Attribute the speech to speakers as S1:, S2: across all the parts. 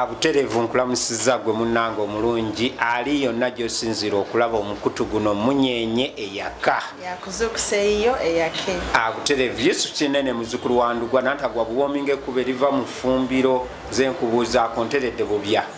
S1: buterevu nkulamusiza gwe munange omulungi ali yonna gyosinzira okulaba omukutu guno munyenye eyaka
S2: abuterevu yesu
S1: kinene muzukulu wandugwa nantagwa buwominga ekuba eriva mu fumbiro zenkubuuzaako nteredde bubya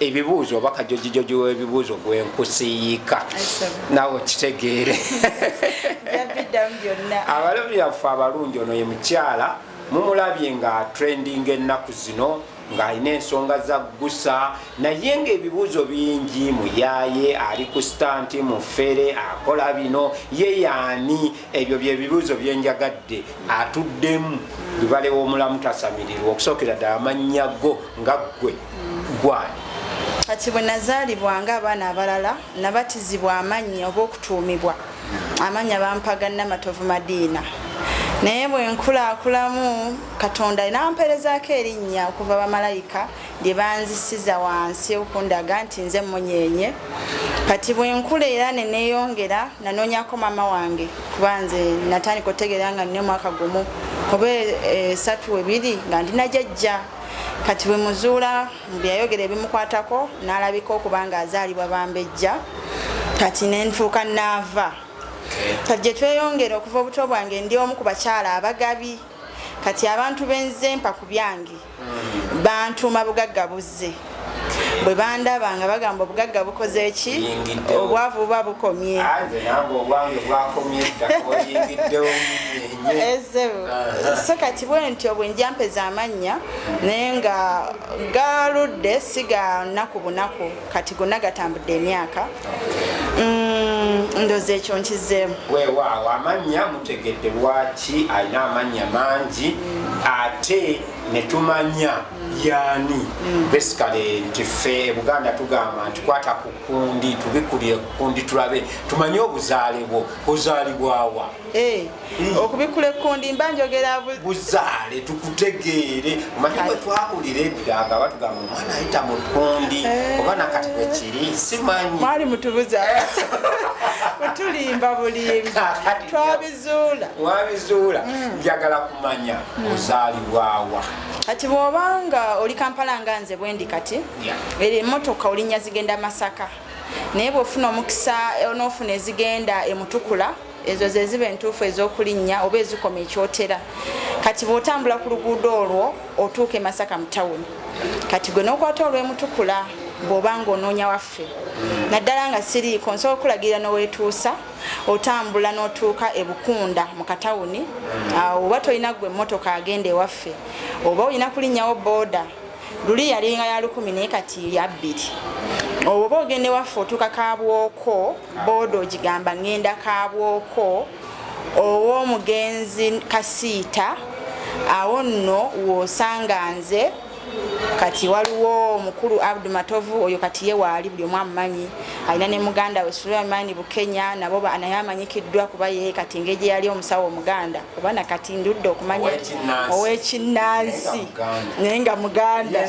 S1: ebibuuzo oba kajojijoji webibuuzo gwenkusiyiika nawe okitegeere abalabi baffe abalungi ono ye mukyala mumulabye nga trending ennaku zino ng'alina ensonga zaggusa naye ng'ebibuuzo bingi muyaaye ali ku sitanti mufere akola bino ye yaani ebyo byebibuuzo byenjagadde atuddemu lubale womulamu tasamirirwa okusookera ddala amannya go nga ggwe gwani kati bwe
S2: nazaalibwa nga abaana abalala nabatizibwa amannya oba okutuumibwa amannya bampaga namatovu madiina naye bwenkulakulamu katonda namperezaako erinnya okuva bamalayika lye banzisiza wansi okundaga nti nze munyeenye kati bwenkula era neneyongera nanoonyako maama wange kuba nze natandika otegeera nga nina omwaka gumu oba esatu eh, webiri nga ndina jajja kati bwemuzuula byeyayogera ebimukwatako nalabika okuba nga azaalibwa bambejja kati nenfuuka naava kati gyetweyongera okuva obuto bwange ndi omu ku bakyala abagabi kati abantu benze mpa ku byange bantuuma bugagga buzze bwe bandaba nga bagamba obugagga bukoze ki obwavu buba bukomye so kati bwenti obwe njampeza amannya naye nga galudde siga nnaku bunaku kati gonna gatambudde emyaka mm, ndoza ekyo nkizeemu wewaawo amannya
S1: mutegedde lwaki alina amannya mangi ate netumanya yani mm. basically nti ffe ebuganda tugamba nti kwata ku kundi tubikulire kukundi tulabe tumanye obuzaale bwo ozaalibwawa eh. Mm.
S2: okubikkula ekkundi mba njogera buzaale
S1: tukutegeere omanyi bwe twawulira edda nga batugamba omwana ayita mu kkundi eh. oba nakati bwe kiri simanyi mwali mutubuza
S2: mutulimba bulimbi twabizuula
S1: wabizuula mm. njagala kumanya mm. ozaalibwawa kati
S2: bw'obanga oli kampala nga nze bwendi kati eri emotoka olinnya zigenda masaka naye bw'ofuna omukisa onoofuna ezigenda emutukula yeah. ezo ze ziba entuufu ez'okulinnya oba ezikoma ekyotera kati bw'otambula ku luguudo olwo otuuka e masaka mu tawuni kati gwe n'okwata olw'emutukula bw'oba ng'onoonya waffe naddala nga siriiko nsobola okulagirira n'oweetuusa otambula n'otuuka e bukunda mu katawuni oba tolina gwe emmotoka agenda ewaffe oba olina kulinnyawo booda luli yalinga ya lukumi naye kati yabbiri oba ogenda ewaffe otuuka kabwoko booda ogigamba ŋŋenda kaabwoko ow'omugenzi kasiita awo nno w'osanga nze kati waliwo omukulu abdu matovu oyo kati ye waali buli omu amumanyi alina ne muganda we sulaimaani bukenya nabo naye amanyikiddwa kuba ye kati ngeri gye yali omusawo omuganda oba na kati ndudde okumanya ow'ekinnansi naye nga muganda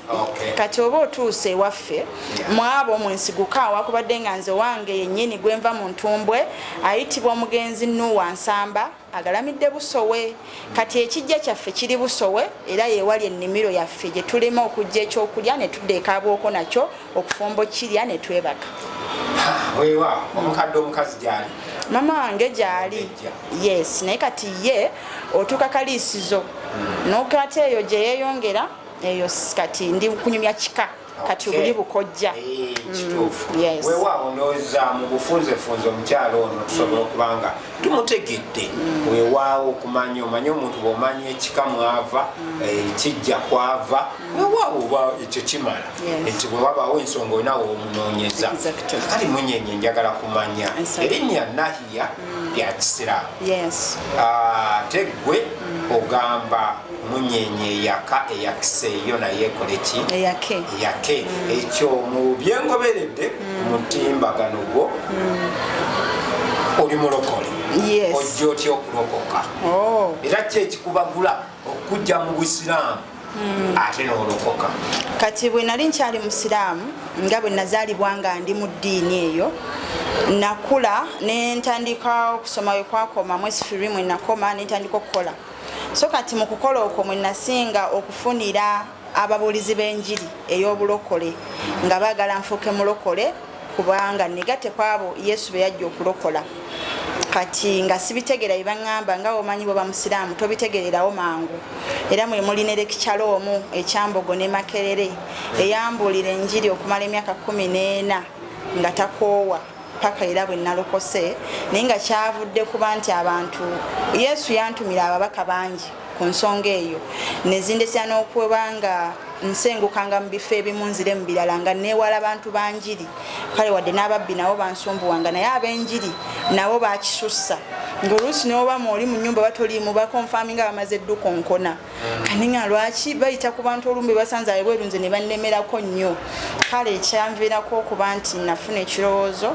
S2: kati oba otuusa ewaffe mwabo mwensiguka awakubadde nga nze wange yennyini gwenva mu ntumbwe ayitibwa omugenzi nuwa nsamba agalamidde busowe kati ekijja kyaffe kiri busowe era yewali ennimiro yaffe gye tulima okujja ekyokulya ne tudda ekaabwoko nakyo okufumba okukirya ne twebaka wewa
S1: omukadde omukazi gyali mama wange
S2: gyali yes naye kati ye otuuka kaliisizo hmm. n'okata eyo gye yeeyongera eyo kati ndi kunyumya kika kati obuli bukojja eh,
S1: mm, wewaawo
S2: ndowooza
S1: mu bufunzefunze omukyalo ono tusobola okuba nga tumutegedde mm. wewaawo okumanya omanye omuntu bwomanya ekika mwava mm. eh, kijja kwava wewaawo oba ekyo kimala nti bwewabaawo ensonga onawe omunoonyeza kali munyenye njagala kumanya erinnya nahiya lyakisiraamu ah, tegwe ogamba munyenye eyaka eyakise yo naye ekoleki eyake eyake mm. ekyo mu byengoberedde mm. mutimbagano gwo mm. oli mulokole ojja otya okulokoka oh. era ki ekikubagula okujja mu busiraamu mm. ate nolokoka kati bwe nali
S2: nkyali musiraamu nga bwe nazaalibwa nga ndi mu ddiini eyo nakula nentandika okusoma wekwakoma mwesifirimu enakoma nentandika okukola So kati mu kukola okwo mwe nasinga okufunira ababuulizi b'enjiri ey'obulokole nga baagala nfuuke mulokole kubanga negate kwabo yesu be yajja okulokola kati nga sibitegeera bye baŋŋamba nga omanyi bwe bamusiraamu tobitegererawo mangu era mwe muli ne lekikyalo omu ekyambogo ne makerere eyambuulira enjiri okumala emyaka kumi n'ena nga takoowa paka era bwe nalokose naye nga kyavudde kuba nti abantu yesu yantumira ababaka bangi ku nsonga eyo nezindesera n'okuba nga nsengukanga mu bifo ebimu nzire mu birala nga neewala bantu banjiri kale wadde n'ababbi nabo bansumbuwanga naye ab'enjiri nabo bakisussa ng'oluusi n'oba mu oli mu nyumba batoliimu bakonfaminga bamaze ddukonkona kaninga lwaki bayita ku bantu olumbe basanze abebweru nze ne bannemerako nnyo kale ekyanviirako okuba nti nafuna ekirowoozo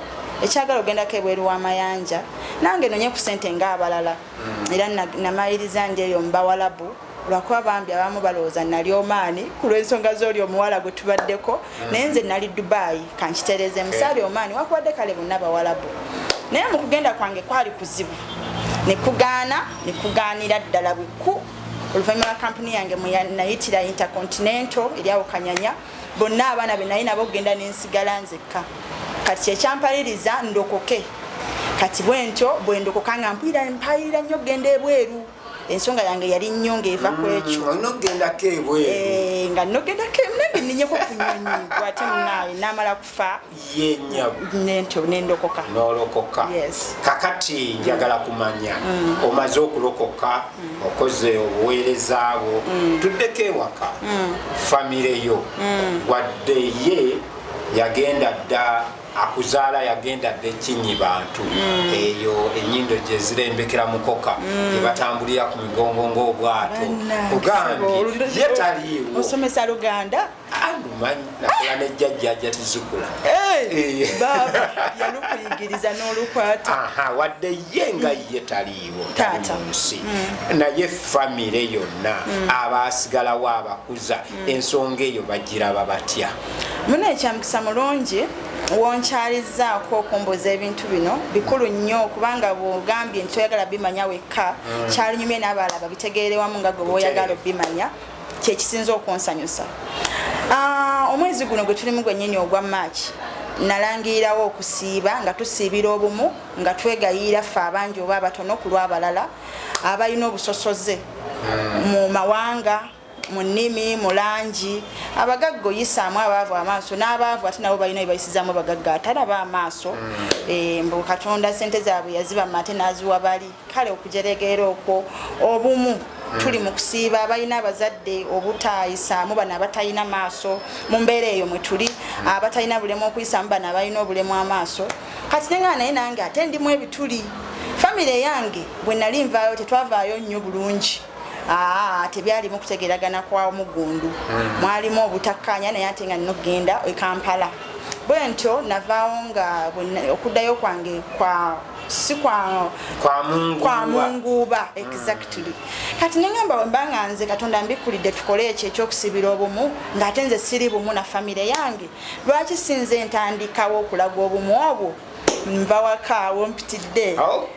S2: ekyagala ogendako ebweru w'amayanja nange nonye ku sente ng'abalala mm. era namaliriza ndi eyo mubawalabu lwakuba bambi abamu balowooza nali omaani ku lw'ensonga z'oli omuwala gwe tubaddeko naye nze nali dubai kankitereeze musaali omaani wakubadde kale bonna bawalabu naye mu kugenda kwange kwali kuzibu nekugaana nekugaanira ddala bweku oluvannyuma lwa kampuni yange nayitira intercontinental eryawo kanyanya bonna abaana be naye nabo okugenda nensigala nzekka kati kyekyampaririza ndokoke kati bwentyo bwendokoka nga mpulira mpayirira nnyo okugenda ebweru ensonga yange yali nnyo ng'eva ku ekyo mm, nogendako ebweru
S1: eh, nga nogendako
S2: nange ninyeko ku nyonyi gwate munaawe namala kufa yenyawnento nendokoka nolokoka
S1: kakati njagala kumanya mm. omaze okulokoka mm. okoze obuweereza bwo tuddeko ewaka famire yo wadde ye yagenda dda akuzaala yagenda dda ekinyi bantu mm. eyo enyindo gyezirembekera mukoka mm. gyebatambulira ku migongo ngaobwato ogambye ye taliiwo osomesa luganda nakola ne jjajjaja tizikula
S2: yalukuyigiriza n'olukwata wadde ye
S1: nga ye taliiwo munsi mm. naye famire yonna abaasigalawo abakuza ensonga eyo bagiraba batya Muna ekyamukisa
S2: mulungi wonkyalizzaako okumbuuza ebintu bino bikulu nnyo kubanga bwogambye nti oyagala bimanya wekka mm. kyalunyumye n'abalala babitegeere wamu nga gwe bwoyagala obimanya kyekisinza okunsanyusa ah, omwezi guno gwe tulimu gwennyini ogwa maaki nalangirirawo okusiiba nga tusiibira obumu nga twegayiira ffe abangi oba abatono ku lw'abalala abalina obusosoze mm. mu mawanga mu nnimi mu langi abagagga oyisaamu abaavu amaaso n'abaavu ate nabo balina bebayisizamu abagagga atalaba amaaso mm. eh, mbu katonda sente zaabwe yazibama ate n'aziwa bali kale okujeregeera okwo obumu mm. tuli mu kusiiba abalina abazadde obutayisaamu bano abatalina maaso mu mbeera eyo mwe tuli mm. abatalina bulemu okuyisaamu bano abalina obulemu amaaso kati nengaa naye nange ate ndimu ebituli famire yange bwe nali nvaayo tetwavaayo nnyo bulungi aa tebyalimu kutegeragana kwa muggundu hmm. mwalimu obutakkaanya naye ate nga nina okugenda e kampala bwe ntyo navaawo nga okuddayo kwange kwa si kwa munguuba mm. exactly kati nengamba wemba nga nze katonda mbikkulidde tukole ekyo ekyokusibira obumu ng'ate nze siri bumu na famire yange lwaki sinze ntandikawo okulaga obumu obwo nva wakaawo mpitidde oh.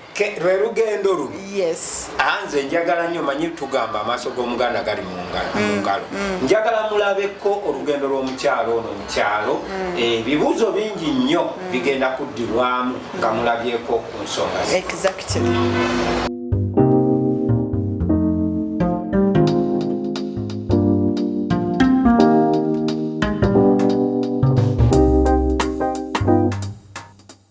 S2: lwe
S1: lugendo lu yes. Ah, nze
S2: njagala
S1: nyo manyi tugamba amaaso g'omuganda gali mu mm, ngalo mm. njagala mulabeko olugendo lw'omukyalo ono mukyalo mm. eh, ebibuuzo bingi nnyo bigenda kuddirwamu nga mulabyeko ku nsonga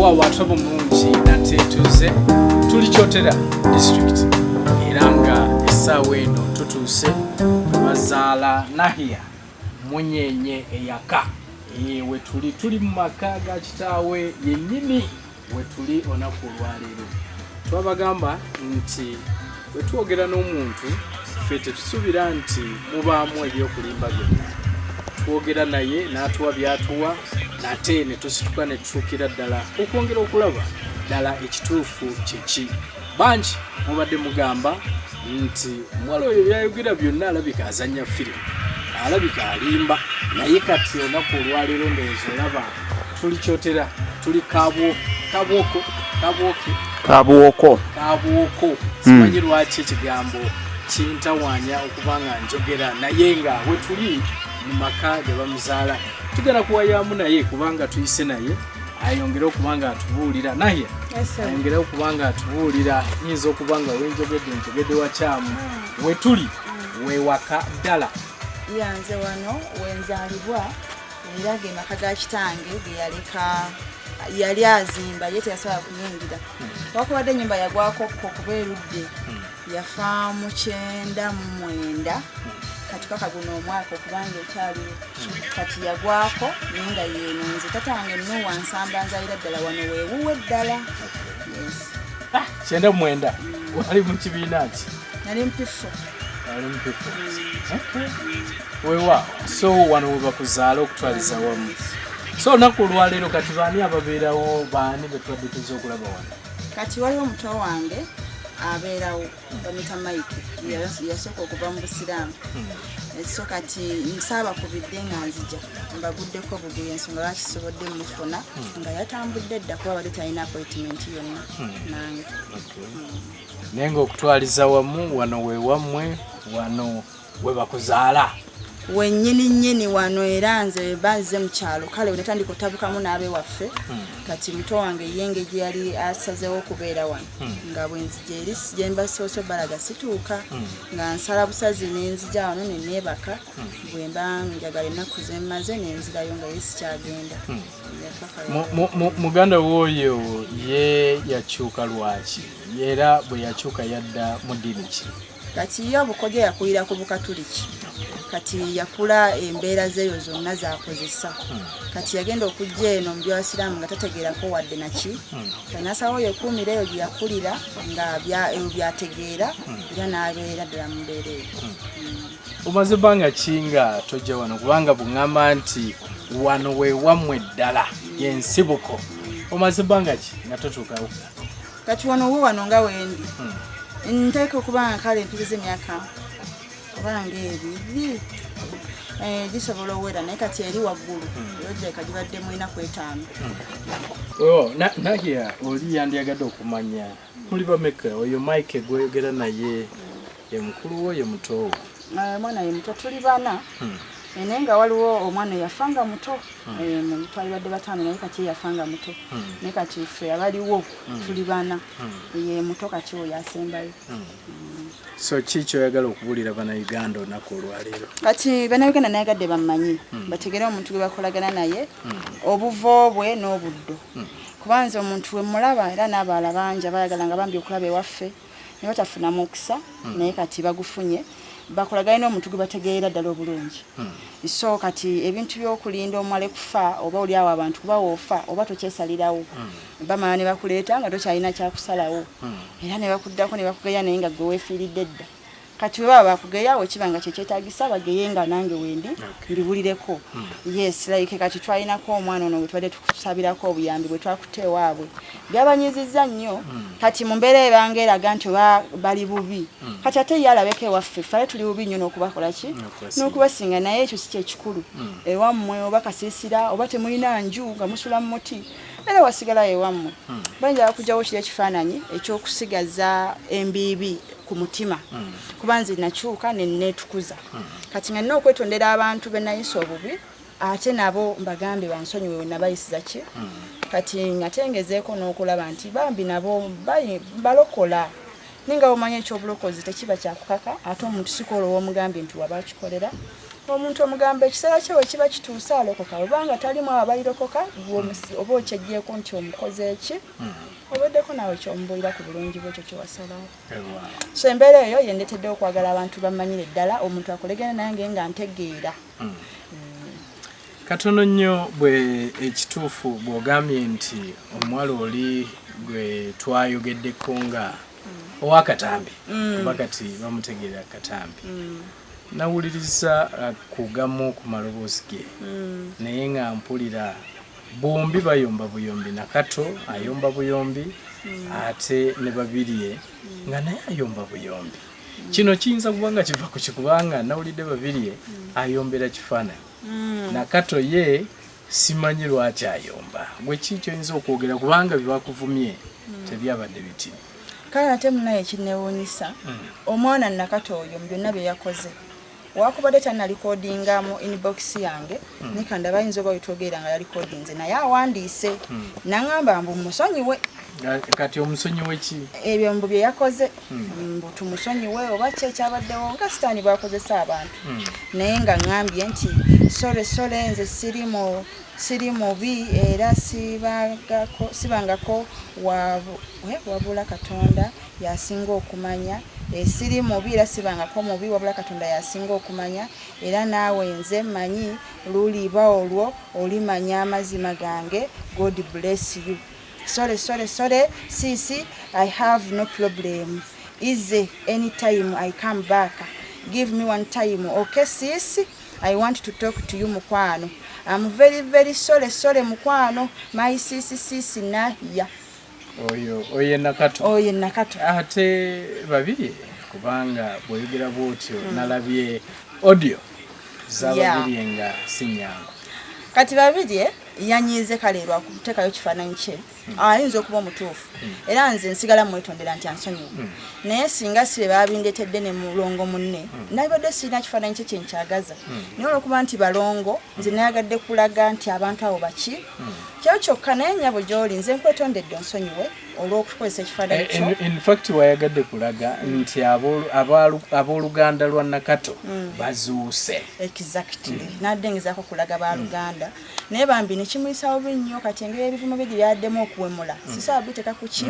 S3: wawatabo mulungi nate tuze tuli kyotera district era nga essaawa eno tutuuse bazaala nahiya munyenye eyaka wetuli tuli mu maka ga kitaawe yennyini wetuli onaku olwaleero twabagamba nti wetwogera n'omuntu ffe tetusubira nti mubaamu ebyokulimba byonna twogera naye n'atuwa byatuwa nate ne tusituka ne tutuukira ddala okwongera okulaba ddala ekituufu kyeki bangi mubadde mugamba nti omuwala oyo byayogera byonna alabika azanya firimu alabika alimba naye kati onaku olwaleero ndowooza olaba tuli kyotera tuli kabwo kabwoko kabwoki kabwoko kabwoko hmm. simanyi mm. lwaki ekigambo kintawanya okuba nga njogera naye nga wetuli mu maka gebamuzaala tugenda kuwayamu naye kubanga tuyise naye ayongere okuba nga atubuulira naye ayongere okuba nga atubuulira yinza okuba nga wenjogedde njogedde wakyamu hmm. wetuli hmm. wewaka ddala yanze
S2: wano wenzalibwa era ge maka ga kitange ge yaleka yali azimba ye teyasobola kuyingira wakubadde enyumba yagwakokko kuba erudde hmm. yafa mu kyenda mu mwenda hmm. katukaka guno omwaka okubanga ekyali hmm. kati yagwako naye nga yenonze tata wange nuwa nsamba nzalira ddala wano wewuwe ddala ah, kyenda
S3: mu mwenda wali mu kibiina nti nali mpifu
S2: ali mpifu
S3: wewa so wano webakuzaala okutwaliza wamu so olunaku olwaleero kati baani ababeerawo baani betubadde tuza okulaba wano kati waliwo omuto
S2: wange abeerawo bamita mike yasooka okuva mu busiraamu hmm. so kati nsaaba kubidde nga nzija mbaguddeko buguya ensonga lwaki sobodde mufuna hmm. nga yatambudde dda kuba bali talina appointment yonna hmm. nange
S3: naye ng'okutwaliza wamu wano we wammwe wano we bakuzaala wenyini
S2: nyini wano era nze banze mu kyalo kale we natandika otabukamu n'abe waffe hmm. kati muto wange ye engeri yali asazeewo okubeera wano hmm. nga bwenzija eri gye mbasoose balaga situuka hmm. nga nsala busazi nenzija wano neneebaka bwe mba njagala ennaku ze mmaze nenzirayo nga ye sikyagenda
S3: muganda wooyo ye yakyuka lwaki era bwe yakyuka yadda mu ddini ki kati ye obukodyo
S2: yakulira ku bukatuliki kati yakula embeera zeeyo zonna zakozesa hmm. kati yagenda okujja eno mu byabasiraamu nga tategeerako wadde naki hmm. kanasawo yekuumira eyo gyeyakulira nga ebyo byategeera hmm. era n'abeera ddala mu mbeera eyo omaze
S3: banga kinga tojja wano kubanga bungamba nti wano wewamwe eddala yensibuko omaze banga ki nga totuukawo kati wano
S2: wo wano nga wendi hmm. nteeka okubanga kale mpiriza emyaka kubanga ebiri eh, gisobola owera naye kati eri waggulu hmm. yojeka gibadde mu enaku etaano hmm. oh, naye
S3: oli yandyagadde okumanya muli bameka oyo mike gwoyogera naye ye mukulu wo ye muto wo eh, omwana ye muto
S2: tuli bana hmm. eh, naye nga waliwo omwana eyafa nga muto hmm. eh, twali badde bataano naye kati eyafa nga muto hmm. naye kati ffe abaliwo tuli bana ye muto kati oyo asembayo
S3: so ki kyoyagala okubulira banauganda olunaku olwaleero kati banauganda
S2: nayagadde bammanyi hmm. bategere omuntu gwe bakolagana naye hmm. obuvo bwe n'obuddo hmm. kubanza omuntu wemulaba era n'abaala bangi abayagala nga bambi okulaba ewaffe ne batafuna mukisa hmm. naye kati bagufunye bakolagane n'omuntu gwe bategeera ddala obulungi hmm. so kati ebintu by'okulinda omwale kufa oba oli awo abantu kuba woofa oba tokyesalirawo hmm. bamala ne bakuleeta nga tokyalina kyakusalawo era ne bakuddako ne bakugeya naye nga gwe weefiiridde dda kati webaba bakugeya wekiba nga kyekyetagisa bageye nga nange wendi ndiwulireko hmm. yes like kati twalinako omwana ono wetubadde tukusabirako obuyambi bwetwakutte ewaabwe byabanyiziza nnyo hmm. kati mu mbeera ebanga eraga nti oba bali bubi hmm. kati ate ye alabeko ewaffe fale tuli bubi nnyo n'okubakolaki n'okubasinga naye ekyo si kyekikulu ewammwe oba kasiisira oba temulina nju nga musula mu muti era wasigalayo ewammwe bayinza bakujjawo kiri ekifaananyi ekyokusigaza embiibi ku mutima mm. kuba nze nakyuka neneetukuza mm. kati nga nina okwetondera abantu benayisa obubi ate nabo mbagambe bansonyiwe wenabayisiza ki mm. kati ngatengezeeko n'okulaba nti bambi nabo balokola naye nga bamanya ekyobulokozi tekiba kyakukaka ate omuntu sikola owomugambye nti waba akikolera omuntu omugamba ekiseera kye wekiba kituuse alokoka webanga talimu abairokoka oba okyejeeko nti omukoze eki mm. oweddeko naawe kyomubuulira ku bulungi bwe ekyo kyewasalawo so embeera eyo yendetedde okwagala abantu bammanyire ddala omuntu akolegene nange nga ntegeera hmm. Hmm.
S3: katono nnyo bwe ekituufu bw'ogambye nti omuwala oli gwe twayogeddeko nga hmm. owakatambi kuba kati bamutegeera katambi nawuliriza uh, kugamu ku maloboozi ge naye nga mpulira Bombi bayomba buyombi nakato ayomba buyombi mm. ate ne babirye mm. nga naye ayomba buyombi mm. kino kiyinza kuba nga kiva ku kikubanga nawulidde babirye mm. ayombera kifaananyi mm. nakato ye simanyi lwaki ayomba gwe ki kyoyinza okwogera kubanga byebakuvumye mm. tebyabadde biti kale ate
S2: munaye kinewunyisa mm. omwana nakato oyo mu byonna byeyakoze wakubadde tanalikodinga mu inbox yange hmm. nikanda bayinza oba wetwogerera nga yalikodinze naye awandiise hmm. nangamba mbu musonyiwe kati
S3: omusonyiwe ki ebyo mbu bye yakoze
S2: hmm. mbu tumusonyiwe oba ki ekyabaddewo nga sitaani bwakozesa abantu naye nga ngambye nti sole sole nze siri mu siri mubi era sibangako wabula katonda Y'asinga okumanya. Eeh siri mubi era sibangako mubi wabula Katonda y'asinga okumanya era naawe nze mmanyi luliba olwo olimanya amazima gange God bless you Sorry sorry sorry sis I have no problem easy any time I come back give me one time ok sis I want to talk to you mukwano I'm very very sorry sorry mukwano my sis sis Nahia oyo
S3: oyo enakatu oyo enakatu
S2: ate
S3: babiri kubanga bwoyogera bwotyo hmm. nalabye audio zababirye nga sinyangu kati
S2: babirye eh, yanyiize kale lwakutekayo kifaananyi kye hmm. ayinza okuba omutuufu hmm. era nze nsigala mwetondera nti ansonyiwa naye singa si be babindetedde ne mulongo munne nabibadde sirina kifaananyi kye kyenkyagaza naye olwokuba nti balongo nze nayagadde kulaga nti abantu abo baki kyo kyokka naye nyabo gyoli nze nkwetondedde onsonyiwe olw'okukozesa ekifaananyi eh, kyo in fact wayagadde
S3: kulaga nti ab'oluganda lwa nakato mm. bazuuse exactly mm.
S2: nadde ngezaako kulaga baluganda mm. naye bambi nekimuyisawo bi nnyo kati engeri ebivumo bye gye byaddemu okuwemula sisobola biteeka ku ki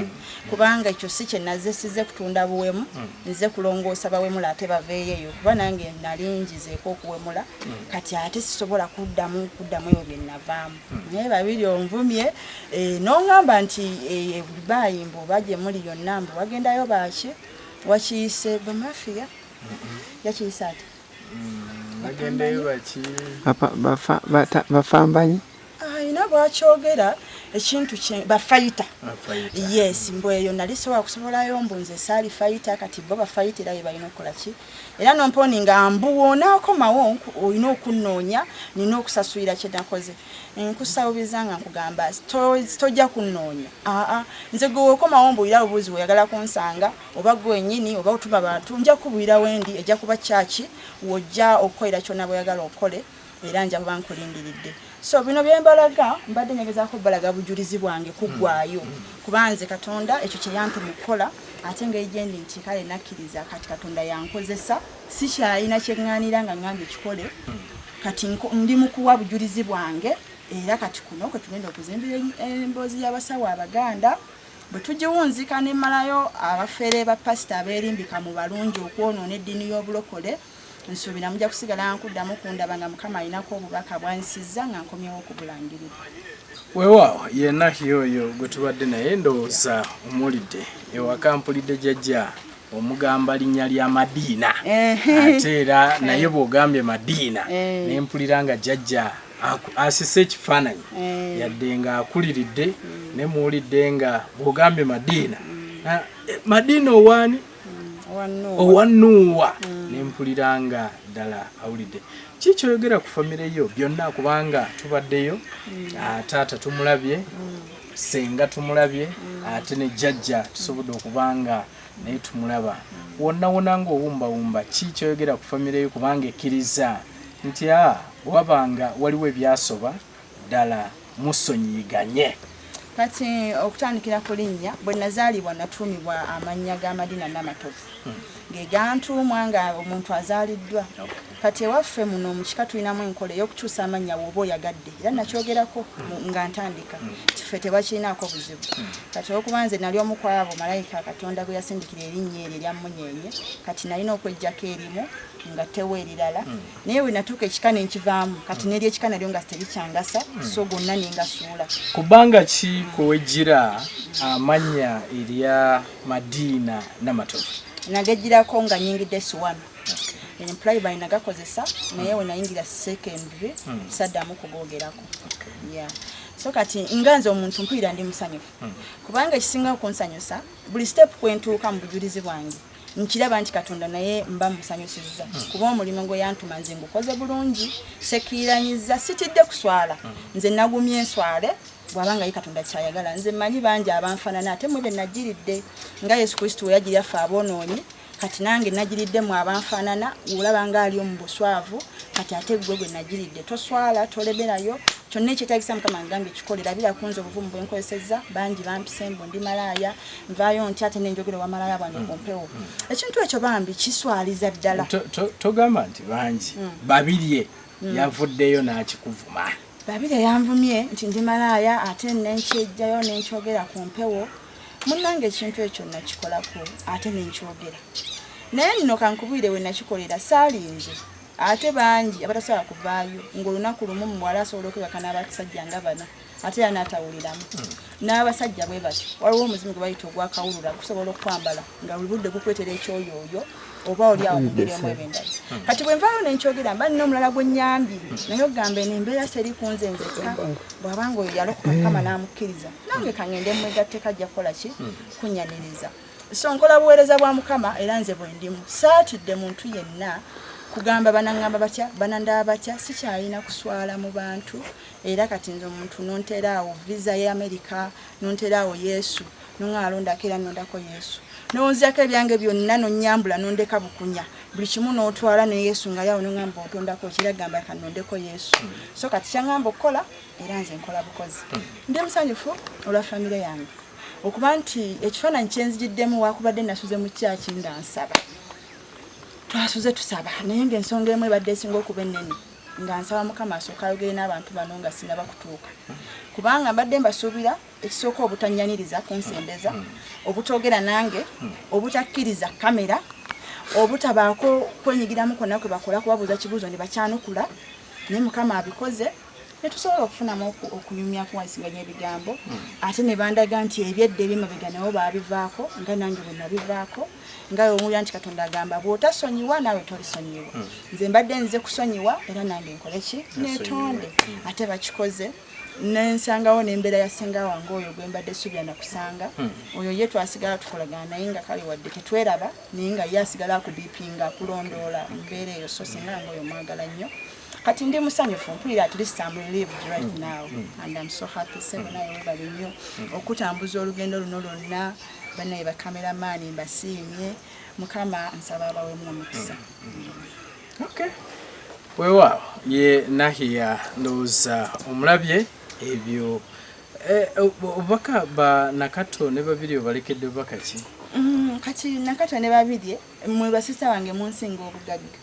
S2: kubanga ekyo si kye nazze sizze kutunda buwemu nze kulongoosa bawemula ate baveeyo eyo kuba nange nalingizeeko okuwemula kati ate sisobola kuddamu kuddamu ebyo bye navaamu naye babiri onvumye eh, nongamba nti eh, dubai mbu baje muli yonna mbu wagendayo baki wakiyise bamafiya yakiyise ati bafambanyi ayina bwakyogera ekintu bafayita yes mbu eyo nali sobola kusibolayo mbu nze saali fayita kati bo bafayita era yebalina okukolaki era nomponi nga mbu wonakomawo olina okunnoonya nina okusasulira kyenakoze nkusawubiza nga nkugamba tojja kunnoonya aa nze gwe wokomawo mbuulira bubuuzi weyagala kunsanga oba gwe wenyini oba otuma bantu nja kukubuulira wendi ejja kuba kyaki wojja okukolera kyona bweyagala okole era nja kuba nkulindiridde so bino byembalaga mbadde nyegezako balaga bujulizi bwange kugwayo mm. kuba nze katonda ekyo kyeyampa mukukola ate nga ejendi nti kale nakkiriza kati katonda yankozesa sikyalina kyeŋŋanira nga ŋŋambye kikole mm. kati ndi mukuwa bujulizi bwange era kati kuno kwe tugenda okuzimbira emboozi y'abasawo abaganda bwe tugiwunzika ne mmalayo abafere ba pasita abeerimbika mu balungi okwonoona eddiini y'obulokole nsuubira mujja kusigala nkuddamu kundaba nga mukama alinako obubaka bwansiza nga nkomyewo okubulangirira weewaawo
S3: yenna yoyo gwe tubadde naye ndowooza omuwulidde ewaka mpulidde jajja omugamba linnya lya madiina ate era naye bw'ogambye madiina eh. ne mpulira nga jajja asise ekifaananyi eh. yadde nga akuliridde ne muwulidde nga bw'ogambye madiina mm. ah, eh, madiina owaani owanuuwa mm. nempulira nga ddala awulidde ki kyoyogera ku famire yo byonna kubanga tubaddeyo mm. ah, taata tumulabye mm. senga tumulabye ate ne jajja tusobodde okubanga naye tumulaba wonna wona nga owumbawumba ki kyoyogera ku famire yo kubanga ekkiriza nti a ah, wabanga waliwo ebyasoba Ddala musonyiyiganye. Kati
S2: okutandikira ku linnya, bwe nazaalibwa natuumibwa amannya ga Madina Namatovu hmm. ge gantuumwa nga omuntu azaaliddwa. Kati ewaffe muno mu kika tulinamu enkola ey'okukyusa amannya wooba oyagadde era nakyogerako hmm. nga ntandika hmm. kife tebakirinaako buzibu. Kati olwokuba nze nali omu kwabo malayika Katonda gwe yasindikira erinnya eryo erya mmunyeenye, kati nalina okweggyako erimu nga tewo erirala naye wenatuuka ekika nenkivaamu kati neri ekika nalyo nga terikyangasa hmm. so gonna nengasuula kubanga ki
S3: kwewejjira amannya erya madiina namatovu nagejjirako
S2: nga nyingidde siwano employ by nagakozesa naye hmm. wenayingira secondary hmm. saddamu kugogerako yeah so kati nga nze omuntu mpulira ndi musanyufu kubanga ekisinga okunsanyusa buli step kwentuuka mu bujulizi bwange nkiraba nti katonda naye mba musanyusizza kuba omulimu gwe yantuma nze ngukoze bulungi sekiiranyiza sitidde kuswala nze nagumye enswale bwaba nga ye katonda kyayagala nze manyi bangi abanfanana ate mwe benagiridde nga yesu kristo weyagirya ffe aboonoonyi kati nange nagiridde mu abanfanana olaba nga ali omu buswavu kati ate gwe gwe nagiridde toswala tolemerayo kyonna ekyetagisa mukama ngambye kikolera bira kunze obuvumu bwenkozesezza bangi bampise mbu ndi malaaya nvaayo ntya ate nenjogera wamalaya bwange ku mm. mpewo mm. ekintu ekyo bambi kiswaliza ddala togamba nti
S3: bangi mm. babirye yavuddeyo n'akikuvuma babirye yanvumye
S2: nti ndi malaaya ate nenkyejjayo nenkyogera ku mpewo munnange ekintu ekyo nakikolako ate nenkyogera naye nno kankubwire we nakikolera saalinze ate bangi abatasobola kuvaayo ng'olunaku lumu muwala asobola okwebakana abasajja nga bana ate era n'atawuliramu n'abasajja bwe batyo waliwo omuzimu gwe bayita ogwakawulura gusobola okwambala nga buli budde gukwetera ekyoyooyo oba oli awo mubiremu ebindala hmm. kati bwe nvaayo ne nkyogera mba nina omulala gwe nnyambi naye ogamba eno embeera seri ku nze nzekka bw'aba nga oyo yalokoka mukama n'amukkiriza nange kangende mwegatteko ajja kukola ki hmm. kunyaniriza so nkola buweereza bwa mukama era nze bwe ndimu saatidde muntu yenna kugamba banangamba batya banandaba batya sikyalina kuswala mu bantu era kati nze omuntu nontera awo visa ya america nontera awo yesu nonga alondako era nondako yesu nonziyako ebyange byonna nonyambula nondeka bukunya buli kimu notwala ne yesu nga yawo nongamba otondako kiragamba ka nondeko yesu so kati kyangamba okukola era nze nkola bukozi ndi musanyufu olwa famire yange okuba nti ekifaananyi kyenzijiddemu wakubadde nasuze mu kyaki nga nsaba twasuze tusaba naye ngaensonga emu ebadde esinga okuba ennene nga nsaba mukama asooka ayogere n'abantu bano nga sinaba kutuuka kubanga mbadde mbasuubira ekisooka obutanyaniriza kunsembeza obutogera nange obutakkiriza kamera obutabaako kwenyigiramu konna kwe bakola kubabuuza kibuuzo ne bakyanukula naye mukama abikoze netusobola okufunamu okunyumya kuwansiganya ebigambo ate ne bandaga nti ebyedda ebyemabega nabo baabivaako nga nange bwe nabivaako nga omulira nti katonda agamba bwotasonyiwa naawe tolisonyiwa hmm. nze mbadde nze kusonyiwa era nange nkoleki netonde hmm. ate bakikoze nensangawo nembeera ya senga wange oyo gwembadde subira nakusanga hmm. oyo ye twasigala tukolagana naye nga kale wadde tetweraba naye nga ye asigala akubipinga kulondoola mbeera eyo so senga wange oyo mwagala nnyo kati ndi musanyufu mpulira at least am relieved right mm. now mm. and am so happy seven mm. ayo bali nnyo okutambuza olugendo luno lwonna banaye bakamera maani mbasiimye mukama nsaba abawemu omukisa
S3: okay. weewaawo ye nahiya ndowooza omulabye ebyo eh, obubaka ba nakato ne babiri obalekedde bubaka ki mm, kati
S2: nakato ne babirye mwe basisa wange munsinga obugagga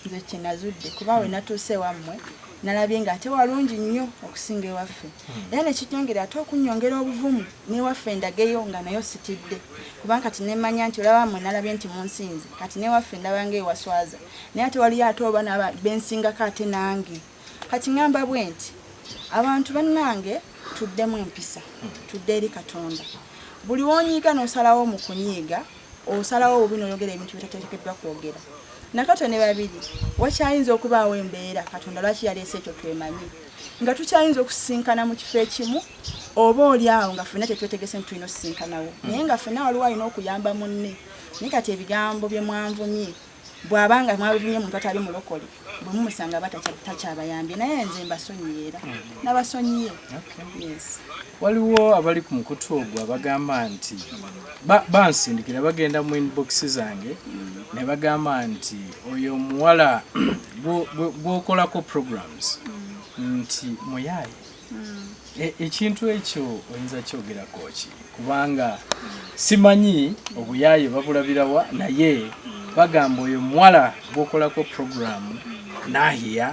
S2: nze kyenazudde kuba we natuuse wammwe nalabye nga ate walungi nnyo okusinga ewaffe hmm. era nekinyongera ate okunyongera obuvumu newaffe ndageyo nga nayo sitidde kubanga kati nemanya nti olaba mmwe nalabye nti munsinze kati newaffe ndaba nga ewaswaza naye ate waliyo ate oba bensinga kate nange kati ŋamba bwe nti abantu bannange tuddemu empisa tudde eri katonda buli wonyiiga nosalawo mu kunyiiga osalawo bubi noyogera ebintu bitateekeddwa kwogera nakato ne babiri wakyayinza okubaawo embeera katonda lwaki yaleese ekyo twemanyi nga tukyayinza okusisinkana mu kifo ekimu oba oli awo nga fena kyetwetegese nti tulina osisinkanawo naye nga fena waliwo alina okuyamba munne naye kati ebigambo byemwanvumye bwaba nga mwabivumye omuntu atali mulokole bwe mumusanga aba takyabayambye naye nze mbasonyiye era mm-hmm. nabasonyiye waliwo
S3: abali ku mukutu ogwo abagamba nti bansindikira bagenda mu inbox zange mm-hmm. ne bagamba nti oyo omuwala gwokolako programs mm-hmm. nti muyaye hmm. e, ekintu ekyo oyinza kyogerako ki kubanga simanyi obuyaaye babulabirawa naye bagamba oyo muwala gwokolako puroguramu nahiya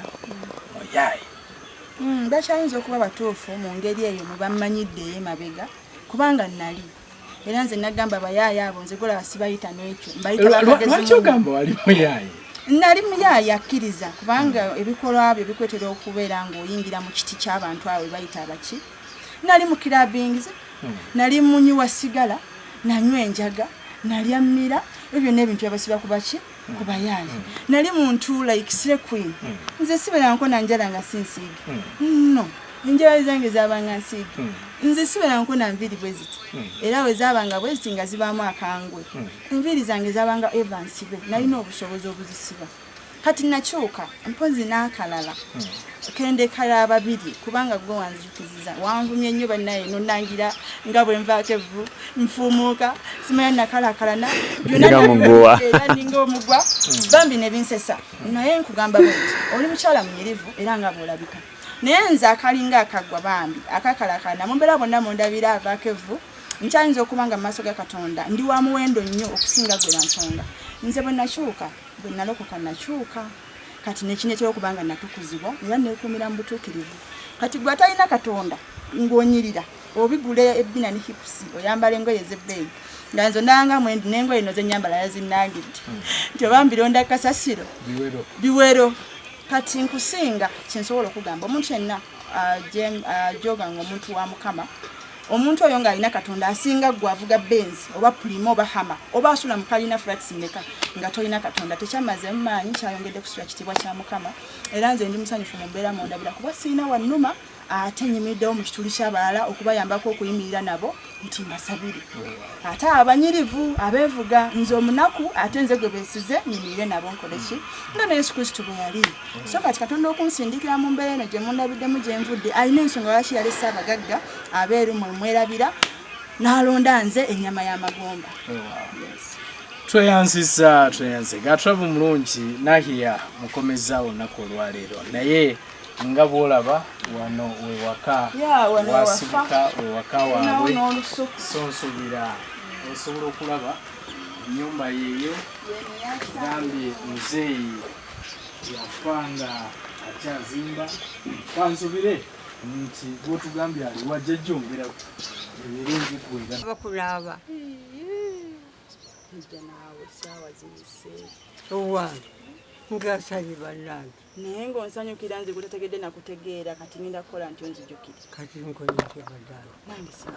S3: muyaaye hmm,
S2: bakyayinza okuba batuufu mu ngeri eyo mubamanyidde emabega kubanga nali era nze nagamba bayaaya abo nze golaba sibayita nekyo mbayitawaki
S3: ogamba wali muyaaye nali muyaaye
S2: akkiriza kubanga ebikolwa byo bikwetera okubeera ngaoyingira mu kiti kyabantu awo webayita abaki nali mu kirabingize hmm. nali munywi wa sigala nanywa enjaga nalya mmira ebyo byonna ebintu byabasiba kubaki kubayaaye mm. nali muntu like sire queen mm. nze siberanko nanjala nga sinsiige mm. no enjala zange zabanga nsiige mm. nze siberanko na nviiri bwe ziti mm. era we zabanga bwe ziti nga zibaamu akangwe mm. enviiri zange zabanga eva nsibe mm. nalina obusobozi obuzisiba kati nakyuka mpozi n'akalala mm. kendekala ababiri kubanga gwe wanzi wanvumye nnyo bannaye nonangira nga bwe nvaako evvu nfuumuuka simanya nakalakalana byonangowa era ninga omugwa bambi ne binsesa naye nkugamba bwe oli mukyala munyirivu era nga bwolabika naye nze akalinga akagwa bambi akakalakalana mumbeera bonna mundabira avaako evvu nkyayinza okuba nga mu maaso ga katonda ndi wa muwendo nnyo okusinga gwe bansonga nze bwe nakyuka bwe nalokoka nakyuka kati nekinetera okuba nga natukuzibwa era nekumira mu butuukirivu kati gwe atalina katonda ng'onyirira obigula ebbina ne hipusi oyambala engoye ez'ebbeeyi nga nze ondabanga mwendi n'engoye no zenyambala yazinnangidde hmm. nti oba mbironda kasasiro biwero kati nkusinga kyensobola okugamba omuntu yenna ajoganga omuntu wa mukama Omuntu oyo ng'alina Katonda asinga ggwe avuga Benz oba Primo oba Hama oba asula mu kalina flats mmeka nga tolina Katonda tekyammazeemu maanyi kyayongedde kusula kitiibwa kya Mukama era nze ndi musanyufu mu mbeera mundabira kuba sirina wannuma ate nyimiddewo mu kituli ky'abalala okubayambako okuyimirira nabo nti mbasabire ate abanyirivu abeevuga nze omunaku ate nze gwe beesize nyimirire nabo nkole ki nga ne yesu kristo bwe yali so kati katonda okunsindikira mu mbeera eno gye mundabiddemu gye nvudde alina ensonga lwaki yalese abagagga abeeru mwe mwerabira n'alonda nze ennyama y'amagomba tweyanziza
S3: tweyanze gatrabu mulungi nahiya mukomeza olunaku olwaleero naye nga bwolaba wano wewaka wasibuka wewaka waabwe so nsubira osobola okulaba enyumba yeeyo gambye muzeeyi yafa nga akyazimba kansubire nti gwotugambye ali wajja jjongera emiringi kwera bakulaba
S2: ija naawe saawa ziyise owange
S4: ngasabye bannange naye ngaonsanyukira
S2: nze gutategedde nakutegeera kati ngenda kukola nti onzijukire kati nkoyeke
S4: bannange nange sa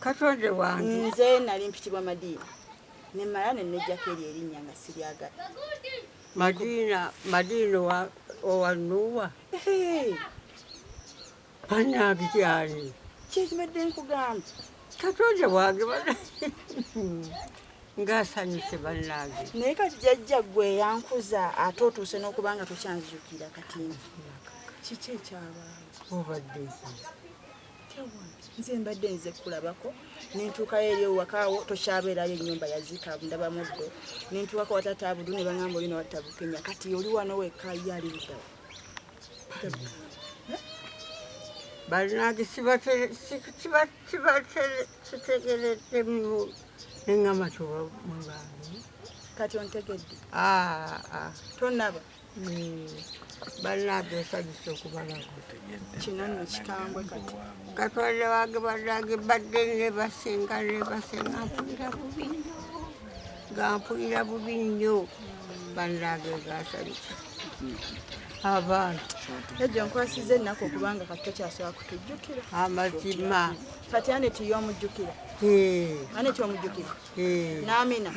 S2: katonde
S4: wange nze nali mpitibwa
S2: madiina nemala nenejjako eri erinnya nga siryagala Madina,
S4: Madina wa, owa Nuwa. Bannange kyali. Kyekibadde
S2: nkugamba. Katonda
S4: wange bana. Ngasanyuse bannange. Naye kati jajja
S2: gwe yankuza ate otuuse n'okuba nga tukyanzijukira kati. Kiki ekyabaawo? Obadde ki? nze mbadde nze kulabako nentuukayo eri owakaawo tokyabeerayo enyumba yaziika ndaba muddo nentuukako watata abudu ne bangamba olina watta bukenya kati oli wano wekka ye ali luddawo
S4: balinagi kitegereddemu nengamba tobamwebange kati
S2: ontegedde ah, ah. tonaba
S4: bannange nsanyusa okubalaba kino nno
S2: kikambwe kati katonda wange
S4: bannange mbadde nebasinga nebasinga mpulira bubi nnyo nga mpulira bubi nnyo bannange ngansanyusa abaana ejo
S2: nkwasiza ennaku okubanga kati tokyasobola kutujjukira amazima
S4: kati aneti
S2: yomujjukira aneti omujjukira namina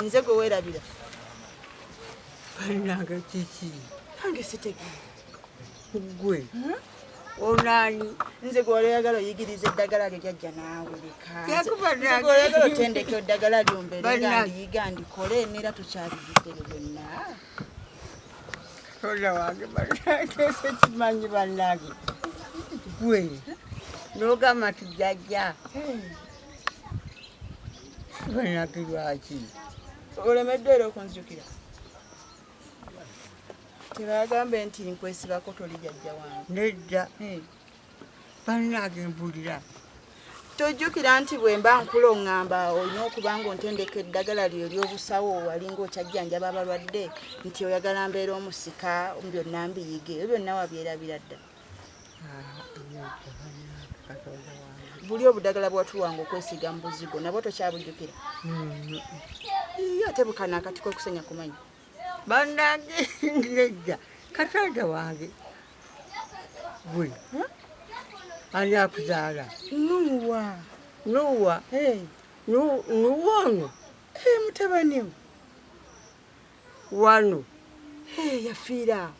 S2: nze gwe werabira Banange
S4: kiki? Nange sitegera.
S2: Ggwe.
S4: Hmm? Onani nze gwali
S2: oyagala oyigiriza eddagala lyo jajja naawe leka. Nze gwali oyagala otendeke eddagala lyo mbeere nga ndiyiga ndikole neera tukyaliyigere byonna. Katonda
S4: wange banange sekimanyi banange. Ggwe. N'ogamba nti jajja. Hmm. Banange lwaki? olemeddwa
S2: era okunzijukira tebagambe nti nkwesibako
S4: toli
S2: jajja wange nedda hmm.
S4: bannange mbulira tojjukira
S2: nti bwe mba nkula oŋŋamba olina okuba nga ontendeka eddagala lyo ly'obusawo wali ng'okyajjanjaba abalwadde nti oyagala mbeera omusika byonna mbiyige ebyo byonna wabyerabira ddala buli obudagala bwatuwanga okwesiga mu buzigo nabwo tokyabujjukira iyo ate bukana akati kwekusenya kumanya banange
S4: ngejja katonda wange gwe ani akuzaala nuwa nuwa nuwa ono
S2: mutabaniwo
S4: wano
S2: yafiiraawo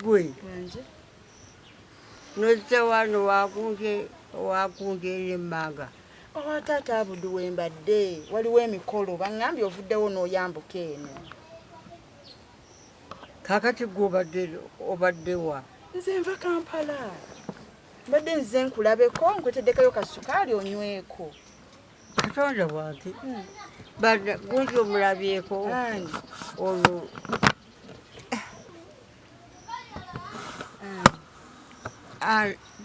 S2: gwe
S4: nozze wano wakunge emmanga owa oh, taata
S2: abudu wembadde waliwo emikolo baŋambye ovuddewo n'oyambuka eno
S4: kakati gwe obadde wa nze nva kampala
S2: mbadde nze nkulabeko nkweteddekayo kasukaali onyweko katonda
S4: wange gundi omulabyeko olwo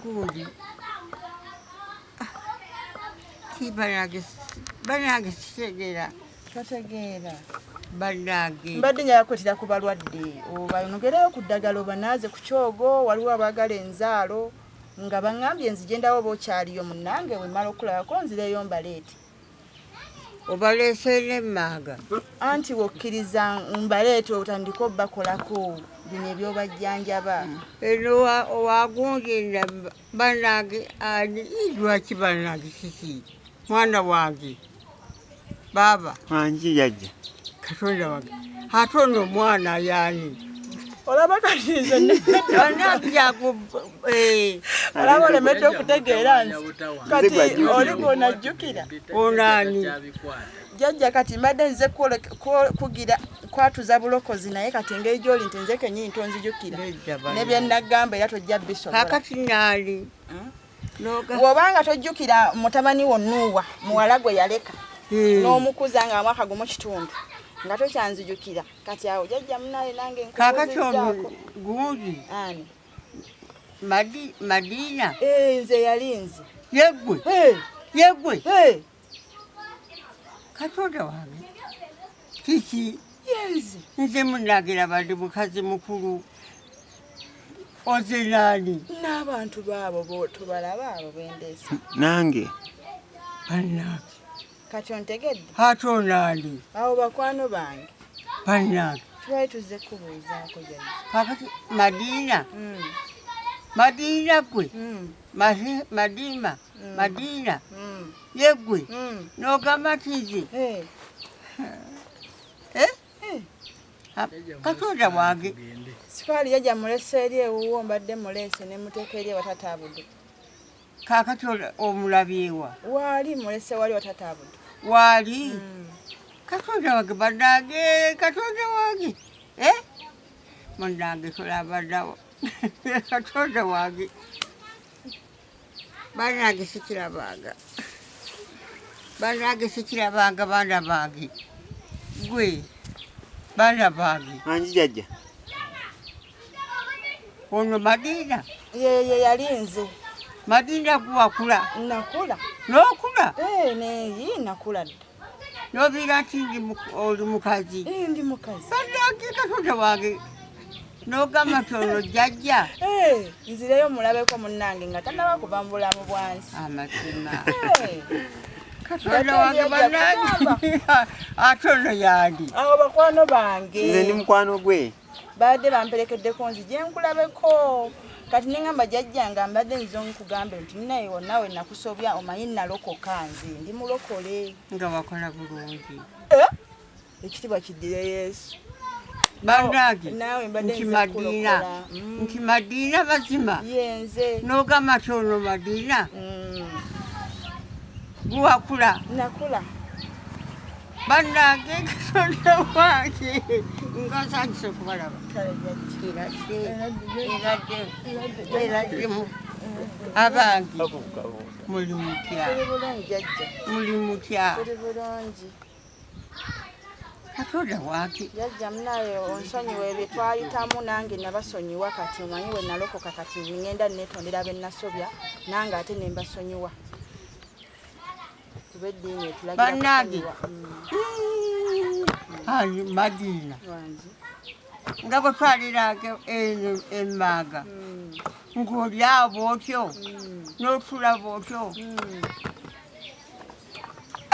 S4: gundi banange sitegera totegeera
S2: banange
S4: mbadde nyayakwetera
S2: ku balwadde obayonogereyo ku ddagala obanaaze ku kyogo waliwo abaagala enzaalo nga bangambye nzije ndawo oba okyaliyo munange wemala okulabako nzireyo mbaleete
S4: obaleeseera emmaaga anti
S2: wokkiriza mbaleete otandika obakolako bino ebyobajjanjaba eno
S4: wagunjenda banange ani lwaki banange kiki mwana wange baaba anji yajja
S5: katonda wange
S4: ate ono omwana yaani olaba
S2: katize eh. olaba olemedde okutegeera nti kati oli gwonajjukira onaani
S4: jajja
S2: kati mbadde nze kugira kwatuza bulokozi naye kati engeri gyoli nti nze kenyini tonzijukira nebyenagamba era tojja bisobola kakati naali
S4: hmm?
S2: wobanga tojjukira mutabani wo nuuwa muwala gwe yaleka hmm. n'omukuza nga mwaka gumu kitundu nga tokyanzijukira kati awo jajja munaye nange kakati ono
S4: gundi ani madiina eh, nze yali
S2: nze yegwe
S4: yegwe katonda wange kiki
S2: nze munagira
S4: bandi mukazi mukulu oze nani n'abantu baabo
S2: botobalaba abo bendesa nange
S4: banange kati
S2: ontegedde ate onani
S4: awo bakwano
S2: bange banange
S4: twali tuzze
S2: kubuuzaako jani kakati
S4: madiina hmm. madiina gwe hmm. madiima mm. madiina mm. yeggwe mm. n'ogamba nti nze eh. Eh? Eh. katonda wange sikaali yajja
S2: mulesa eri ewuwo mbadde muleese ne muteeka eri ewatataabudu
S4: kakati omulabyewa waali mulese
S2: wali watataabudu waali
S4: katonda wange banange katonda wange munange tolabadawo katonda wange banange sikirabanga banange sikirabanga baana bange gwe baana bange angi jajja ono madiina yeye yali
S2: nze madiina
S4: guwakula nakula
S2: nokula
S4: eh, naye
S2: nakula dda n'obiira
S4: nti oli mukazi eh, ndi mukazi
S2: baddakiika tota
S4: wange n'ogamba nti olwo jjajja eh, nzireyo
S2: mulabeko munnange nga tanaba kuva mu bulamu bwansi amazima
S4: eh. katonda wange banange ate ono yandi awo bakwano
S2: bange nze ndi mukwano gwe
S5: baadde
S2: bamperekeddeko nzi gyenkulabeko kati nengamba jajja nga mbadde nze omukugambe nti naye wonawe nakusobya omanyi nalokoka nze ndi mulokole nga wakola
S4: bulungi eh?
S2: ekitibwa kiddire yesu banange
S4: nti
S2: madiina mm.
S4: nti madiina mazima
S2: nogamba ti ono
S4: madiina mm.
S2: guwakula
S4: bannange katonda wange nga nsanyusa okubalaba abange muli mutya muli mutya katonda wange yajja munaye
S2: onsonyiwa ebyo twayitamu nange nabasonyiwa kati omanyi we nalokoka kati ngenda netondera benasobya nange ate nembasonyiwa bannange
S4: ani madiina nga bwe twaliraga eno emmaaga hmm. ng'olyawo bwotyo hmm. n'otula bwotyo hmm.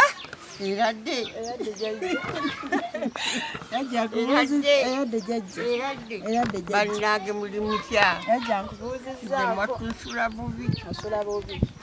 S4: ah! eradde eradde jajja bannange muli mutya mwatusula bubi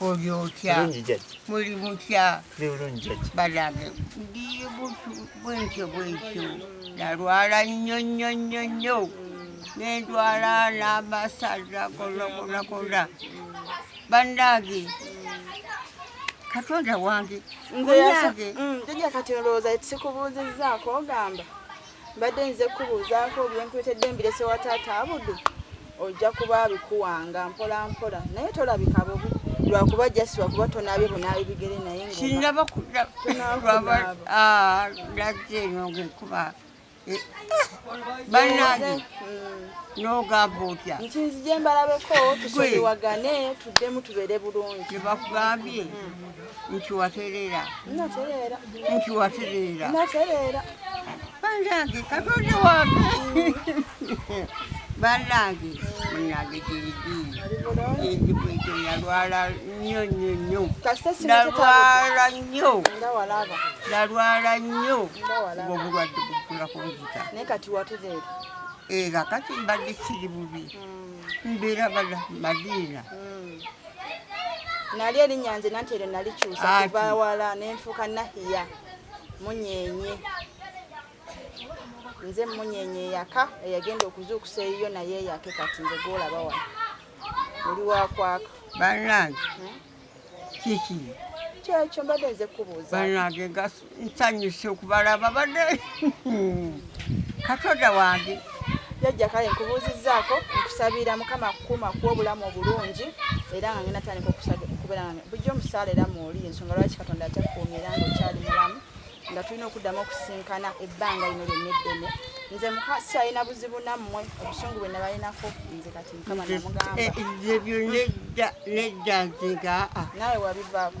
S5: oli
S4: otya muli
S5: mutya banange ndi
S4: bwentyo bwentyo nalwala nnyo nnyo nnyo nnyo nendwala n'amasaza gonna gonna gonna banange katonda wange ngonange
S2: mm, kati olowooza sikubuuzizzaako ogamba mbadde nze kubuuzaako byenkuletedde mbirese wa taata abudu ojja kuba abikuwanga mpola mpola naye tolabika bubi lwakuba jasi wakuba tonabye bunaabi bigere naye sinaba
S4: kulaba ah, lagze nogekuba eh, banange mm. nogamba otya nti nzije mbalabeko
S2: tusoliwagane tuddemu tubeere bulungi tebakugambye mm.
S4: nti waterera nti waterera
S2: banange
S4: katonda wange banange munange girigiiigikwekyo nalwala nnyo nnyo nnyo nalwala nnyo nalwala nnyo ng'obulwadde bugulako nzita
S2: era
S4: kati mbadde kiri bubi hmm. mbeera bala madiina hmm.
S2: nali erinnya nze nanti eryo nalikyusa kuva wala nenfuuka nahiya munyenye nze munyenye eyaka eyagenda okuzuukusa eyiyo naye eyake kati nze gwolaba wano oli wakwaka banange
S4: hmm? kiki kyekyo
S2: mbadde nze kubuuza banange
S4: nsanyuse okubalaba bade katonda wange jajja kale
S2: nkubuuzizzaako nkusabira mukama kukuma ku obulamu obulungi era nga ngenda tandika okubeera nga bujja omusaala era muoli ensonga lwaki katonda akyakukuumya era nga okyali mulamu nga tulina okuddamu okusinkana ebbanga lino lyonna eddene nze mukasi alina buzibu nammwe obusungu bwe nabalinako nze kati mukama namugambaebyo eh, eh,
S4: nedda nedda nzega ah. nawe wabivaako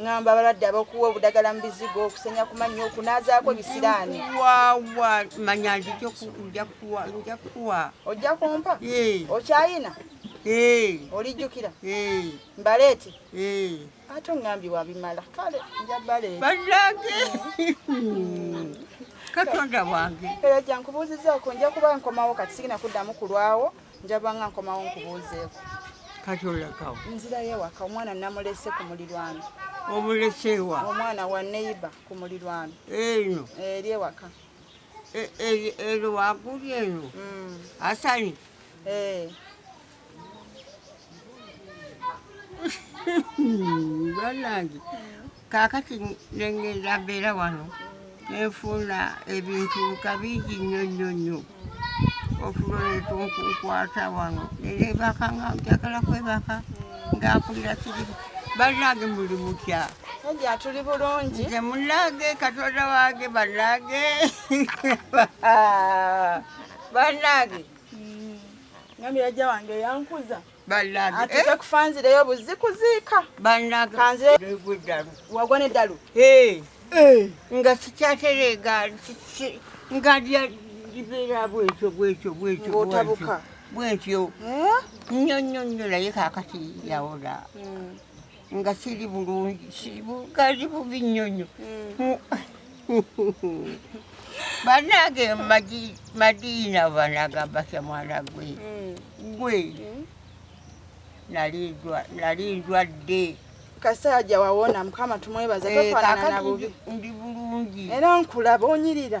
S4: ngamba
S2: abalwadde abakuwa obudagala mu bizigo okusenya ku mannyo okunaazaako bisiraani wawa
S4: manya nzija kuwa ojja kumpa
S2: okyayina olijjukira mbaleete ate ongambye wabimala kale nja baleete banange
S4: katonda wange era gyankubuuzizaako
S2: nja kuba nkomawo kati sigina kuddamu kulwawo njaba nga nkomawo nkubuuzeeko kati olakawo
S4: nzirayo ewaka
S2: omwana namulese ku mulirwano obuleseewa
S4: omwana wa
S2: neiba ku mulirwano eno eri
S4: ewaka e, e, eri waguli eno mm. asani eh. banange kaakati nengenda mbeera wano nenfuuna ebintu kabingi nnyo nnyo nnyo otuloleeta okunkwata wano neneebaka nga njagala kwebaka nga mpulira kiri bannange muli mutya Nadia tuli
S2: bulungi nze munnange
S4: katonda wange bannange bannange mm.
S2: ngambye yajja wange yankuza atekakufanzireyo buzzi kuziika wagwa neddalu nga sikyatereega
S4: nga libeera bwekyo bwekyo bwekyo otabuka
S2: bwekyo
S4: nnyo nnyo nnyo naye kakati yawola hmm. nga siri bulungi kali bubi nnyo nnyo hmm. banange madiina banagamba kya mwana gwe hmm. gwe hmm. nali ndwadde kasajja
S2: wawona mukama tumwebaza eh, tofanana nabubi ndi bulungi
S4: era nkulaba
S2: onyirira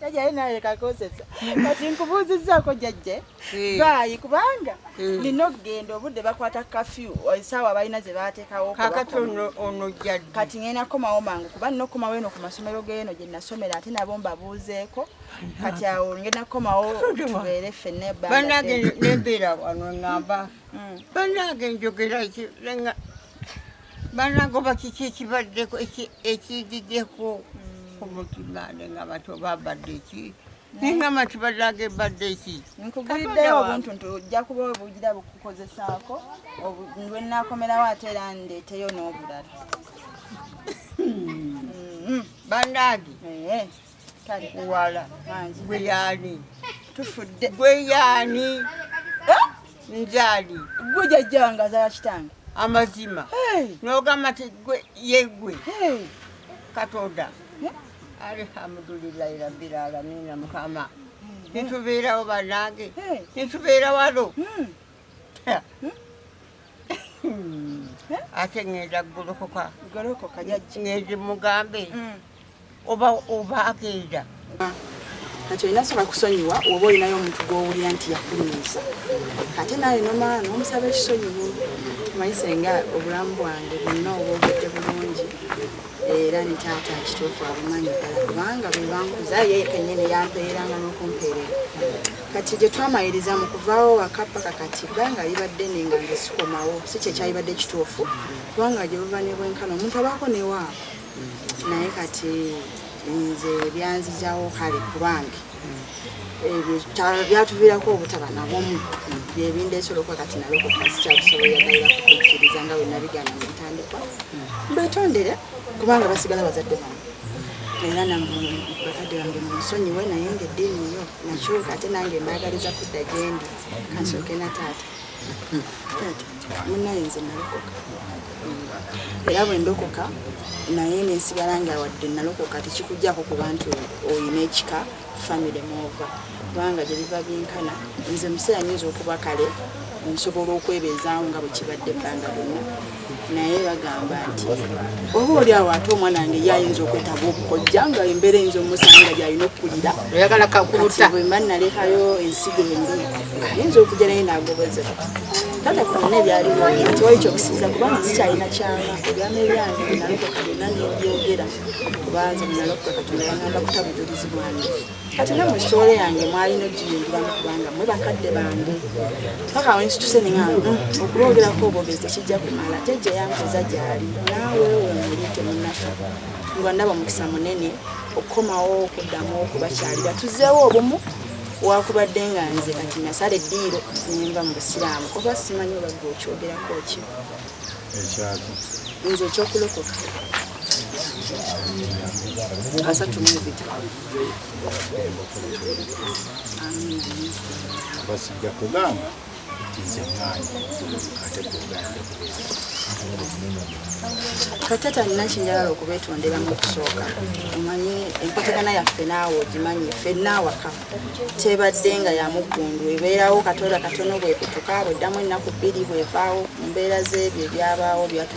S2: Jajja ye naye kakosesa. Kati nkubuuzizzaako jajja eh. baayi kubanga eh. nina okugenda obudde bakwata kafyu esaawa eh, balina ze baateekawo kakati ono
S4: jjaddi kati ngenda kukomawo
S2: mangu kuba nina okukomawo eno ku masomero geeno gye nasomera ate nabo mbabuuzeeko kati awo ngenda kukomawo tubeere ffenna ebbanaange nembeera
S4: wano ngamba mm. banaange njogera banange oba kiki ekibaddeko ekijiddeko hmm. omutima ne nga bati oba abadde eki naye nga mati banange ebadde eki nkuguliddeyo obuntu
S2: nti ojja kuba obugira bukukozesaako lwenakomerawo ate era ndeeteyo n'obulala hmm.
S4: Hmm. banange eh.
S2: takuwala
S4: gwe yaani tufudde
S2: gwe yaani
S4: eh? njaali gwe
S2: jajjanga zala kitange amazima
S4: nogamba ti gwe yegwe katonda alihamudulilahi rabbil alamina mukama nitubeerawo banange nitubeera wano hmm. ate ngenda golokoka ngenda mugambe mm. oba oba agenda
S2: kati olina sobola kusonyiwa oba olinayo omuntu gwowulira nti yakunyiiza ate naye nomaa nomusaba ekisonyiwo omanyi senga obulamu bwange bwonna obwogedde bulungi era ne taata kituufu abumanyi ddala kubanga bwebankuza ye kenyini yampeeranga n'okumpeerera kati gye twamaliriza mu kuvaawo waka paka kati bbanga libadde nenga nge sikomawo si kye kyalibadde kituufu kubanga gye buva ne bwenkana omuntu abaako newaako naye kati nze byanzijawo kale kubange ebyo byatuviirako obutaba nabomu byebindeesoloka kati nalokoka sikyakusobola dayira kukukkiriza nga bwe nabigana mu ntandikwa mbetondere kubanga basigala bazadde bange era na bakadde bange munsonyiwe naye nga eddiini yo nakyuka ate nange mbaagaliza kudda gyendi kansooke na taata taata munaye nze nalokoka era bwe ndokoka naye nensigala nga wadde nalokoka tekikujjako ku bantu olina ekika famire mwova kubanga gye biva byenkana nze museera nyinza okuba kale nsobola okwebeezaawo nga bwe kibadde ebbanga lyonna naye bagamba nti oba oli awo ate omwana wange ye ayinza okwetaba okukojja nga embeera eyinza omusanga gyalina okukulira oyagala kakuluta
S4: bwemba nalekayo
S2: ensigo embi ayinza okujja naye nagobozeka tata ku byonna ebyaliwo nti wali kyokusiiza kubanga sikyalina kyama ebyama ebyange byenalokoka byonna nebyogera kubanza byenalokoka katonda yangamba kutabujulizi bwange kati ne mu sitoola yange mwalina ogiyingiramu kubanga mwe bakadde bange paka wensituse ninga mm, okulwogerako obwogezi tekijja kumala jajja yankoza gyali naawe wemuli temunafa nga ndaba omukisa munene okukomawo okuddamu okubakyalira tuzeewo obumu wakubadde nga nze kati nasala eddiiro nenva mu busiraamu oba simanyi obagga okyogerako ki ekyaki nze ekyokulokoka asatu mubiri
S5: basijja kugamba nze mwana ate kugamba
S2: katata nina kinjagala okubetondera mu kusooka omanye enkwatagana yaffe naawe ogimanyi fenna awaka tebadde nga yamuggundu ebeerawo katoda katono bwekutuka bweddamu ennaku bbiri bwevaawo mu mbeera z'ebyo ebyabaawo byatu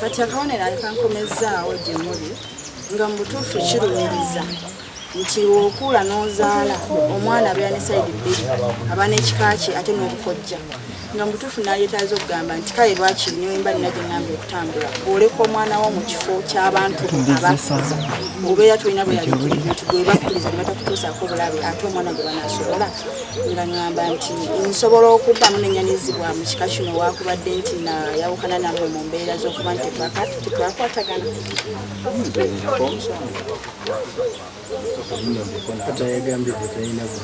S2: kati akabonero akankomezzaawo gye muli nga mu butuufu kirumiriza nti okuula n'ozaala omwana abeera ne saidi bbiri aba n'ekika kye ate n'obukojja nga mu butuufu nayetaaza okugamba nti kale lwakiri newemba nina gye ngamba okutambula bwoleka omwana wo mu kifo ky'abantu abakuza obeera tolina bweyabikira ebintu gwebakuliza ne batakutuusaako obulabe ate omwana gwe banasobola nga ŋŋamba nti nsobola okuddamu nenyanyizibwa mu kika kino wakubadde nti nayawukana namwe mu mbeera z'okuba nti tetwakwatagana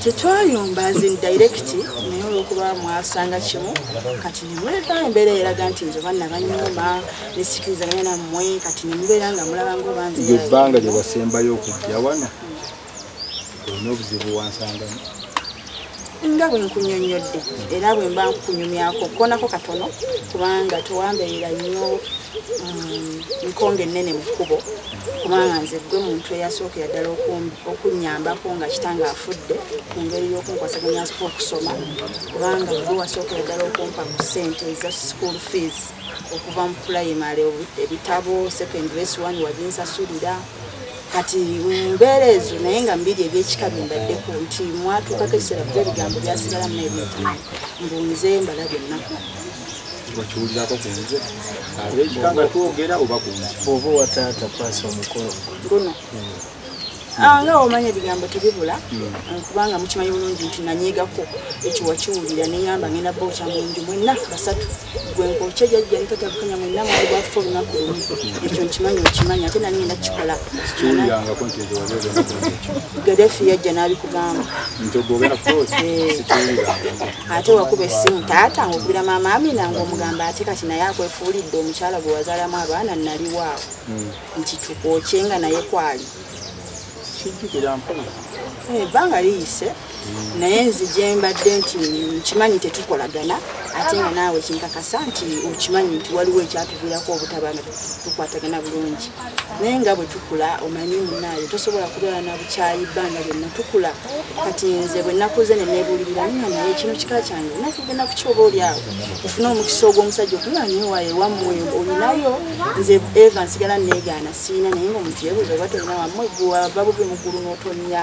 S2: tetwayomba azin direct naye olwokuba mwasanga kimu kati nemuleka embeera eraga nti nze banna banyuma nesikirizaganya nammwe kati nemubeera nga mulaba ngaobanzeebbanga gyewasembayo
S5: okujja wano olina obuzibu wansangamu
S2: nga bwe nkunyonnyodde era bwe mba nkunyumyako konako katono kubanga tewambeerera nnyo mm, nkonga ennene mu kkubo kubanga nze gwe muntu eyasookera ddala okunnyambako nga kitange afudde ku ngeri y'okunkwasaganya okusoma kubanga gwe wasookera ddala okumpa ku ssente eza school fees okuva mu pulayimale ebitabo secondary s1 wabinsasulira kati mbeera ezo naye nga mbiri ebyekika byembaddeko nti mwatuukako ekiseera kuba ebigambo byasigala mu ebintu mbu nze mbala byonna okiwulirako
S5: ku nze abekika nga twogera oba ku nze oba owa taata
S3: paasa omukolo guno
S2: hmm. ah, nga omanya ebigambo tebibula hmm. kubanga mukimanyi bulungi nti nanyiigako ekiwakiwulira nengamba ngenda booca mu nju mwenna basatu gwenkokye jajja ntatabukanya mwenna mwali bwakufa olunaku lumu ekyo nkimanyi okimanyi ate nani ngenda kukikola
S5: gadefi yajja
S2: n'abikugamba
S5: eh. ate wakuba
S2: essimu taata ngaokubira maama amina ngaomugamba ate kati naye akwefuulidde omukyala gwe wazaalamu abaana naliwaawo hmm. nti tukwokye nga naye kwali
S5: ebbanga eh,
S2: liyise naye nzi gyembadde nti nkimanyi tetukolagana ate nga naawe kinkakasa nti okimanyi nti waliwo ekyatuviirako obutaba nga tukwatagana bulungi naye nga bwe tukula omanyi munaayo tosobola kubeera na bukyayi bbanga lyonna tukula kati nze bwe nakuze ne nebuulirira nina naye kino kika kyange nakugenda ku kyoba oli awo ofune omukisa ogw'omusajja okunga naye waye wammwe olinayo nze eva nsigala neegaana siina naye nga omuntu yebuuza oba tolina wammwe gwewava bubi muggulu n'otonnya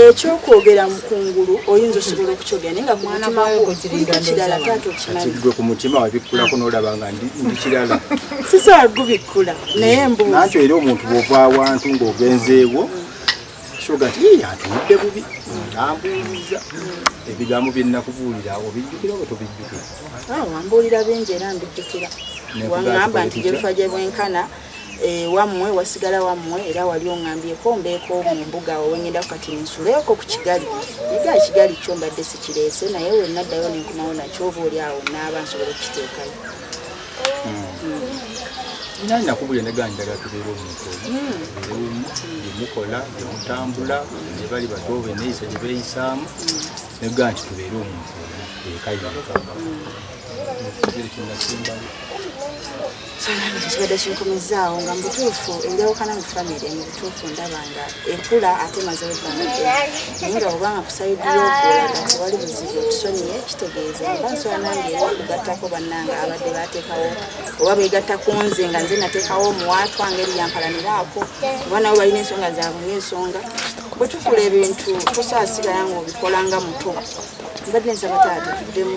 S5: ekyokwogera
S2: mu kungulu oyinza osobola okukyogera naye nga ku mutima gwo kuliko kirala taata okimanyigwe ku mutima
S5: wabikkulako n'olaba nga ndi kirala sisobola
S2: gubikkula naye mbuuzi nakyo era omuntu bw'ova
S5: awantu ng'ogenzeewo kyoga nti yeye atunudde bubi tambuuliza ebigambo bye nnakubuulira obijjukira oba tobijjukira ah, wambuulira
S2: bingi era mbijjukira wangamba nti gyefa gye bwenkana ah, Eh, wammwe wasigala wammwe era wali oŋambyeko mbeeko mu mbuga owengendako kati nsuleeko ku kigali naga ekigali kyo mbadde sikireese naye wenaddayo nenkomawo nakyo oba oli awo naaba nsobola okukiteekayo
S5: nakubulya neganjaga tubeera omuntu omu gyemukola gyemutambula gyebali bato beneyisa gyebeyisaamu nega nti tubeere omuntu omu ekayoka
S2: kibadde kinkumizzaawo nga mubutuufu enjawukana mu famire mu butuufu ndaba nga ekula ate mazewo ebbanga naye nga obanga kusaidiyo okulaga tewali buzibu otusonyiye kitegeeza oba nsola nange era okugattako bannange abadde bateekawo oba beegatta ku nze nga nze nateekawo omuwaatwa ngeri yampalaniraako oba nabo balina ensonga zaabwe ngaensonga bwe tukula ebintu tusaasigala ngaobikola nga muto mbadde nsaba taata tuddemu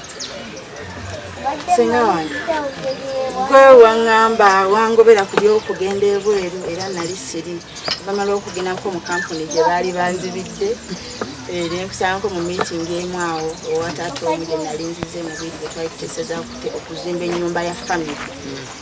S2: senga wange gwe waŋŋamba wangobera ku by'okugenda ebweru era nali siri bamala okugendako mu kampuni gye baali banzibidde eh, nenkusanko mu miitingi emu awo owataata omu gye nali nzize mu biri bwe twali tuteeseza okuzimba ennyumba ya famiry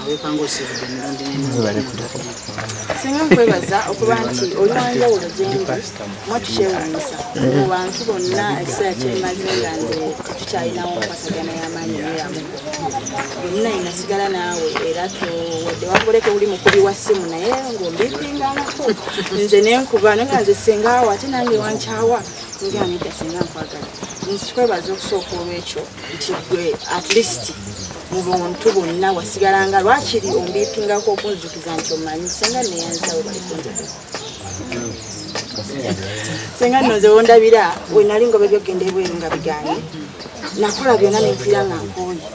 S6: awekanga osibudde emirundi n'emirudisinga
S2: nkwebaza okuba nti oli wanjawulo gyendi mwatukyewunyisa mu bantu bonna ekiseera kyemaze nga nze tetukyalinawo nkwatagana y'amaanyi neyamu bonna inasigala naawe era wadde wakoleka oli mukubi wa ssimu naye ng'ombipinganaku nze nenkuba naye nga nze sengaawo ate nange wankyawa nga nedda senga nkwagala nzikwebaza okusooka olw'ekyo nti gwe at least mu buntu bonna wasigalanga lwakiri ombiipingako okunzukiza nti omanyi senga neyanzawo balikunjagala senga nno nze wondabira wenali ngoba ebyokugenda ebweru nga biganye nakola byonna nempira nga nkooye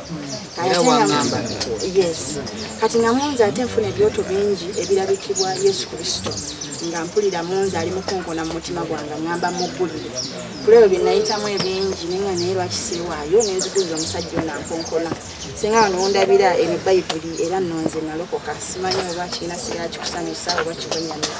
S2: yes kati nga munze ate nfuna ebyoto bingi ebirabikibwa yesu kristo nga mpulira munze ali mukonkona mu mutima gwange ngamba muggulire kulebyo bye nayitamu ebingi naye nga naye lwaki seewaayo ne nzikiriza omusajja ono ankonkona singa wano wondabira eno bayibuli era nonze nalokoka simanyi oba kirina sigala kikusanyusa oba kikunyamira